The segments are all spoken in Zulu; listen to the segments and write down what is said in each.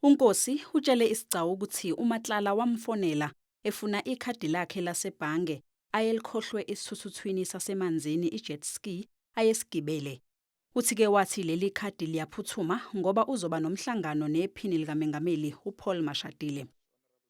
UNkosi utshele isigcawu ukuthi uMatlala wamfonela efuna ikhadi lakhe lasebhange ayelikhohlwe esithuthuthwini sasemanzini i-jet ski ayesigibele. Uthi-ke wathi leli khadi liyaphuthuma ngoba uzoba nomhlangano nephini likamengameli uPaul Mashatile.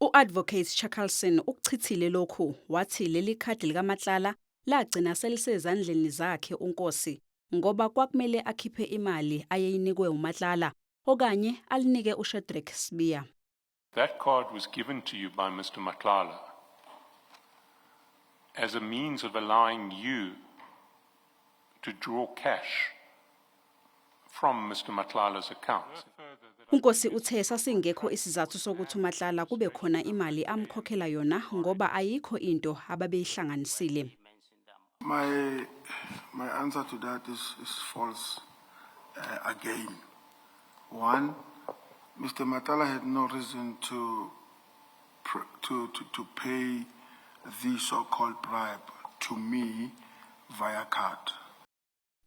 U-Advocate Chakalson ukuchithile lokhu wathi leli khadi likaMatlala lagcina selisezandleni zakhe uNkosi ngoba kwakumele akhiphe imali ayeyinikwe uMatlala okanye alinike uShedrick Sibiya. That card was given to you by Mr. Matlala as a means of allowing you to draw cash from Mr. Matlala's account. UNkosi uthe sasingekho isizathu sokuthi uMatlala kube khona imali amkhokhela yona ngoba ayikho into ababeyihlanganisile. My my answer to that is, is false uh, again. One, Mr. Matala had no reason to to to, to pay the so-called bribe to me via card.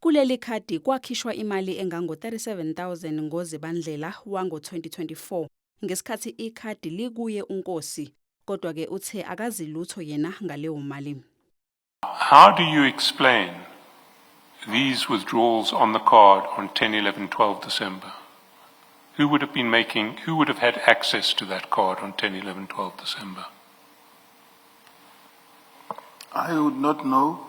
Kuleli khadi kwakhishwa imali engango-37,000 ngoZibandlela wango-2024 ngesikhathi ikhadi likuye uNkosi kodwa ke uthe akazi lutho yena ngaleyo mali. How do you explain these withdrawals on the card on 10, 11, 12 December? Who would have been making, who would have had access to that card on 10, 11, 12 December? I would not know.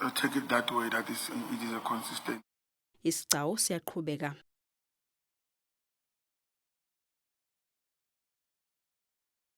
I take it that way that is it is a consistent. Isigcawu siyaqhubeka.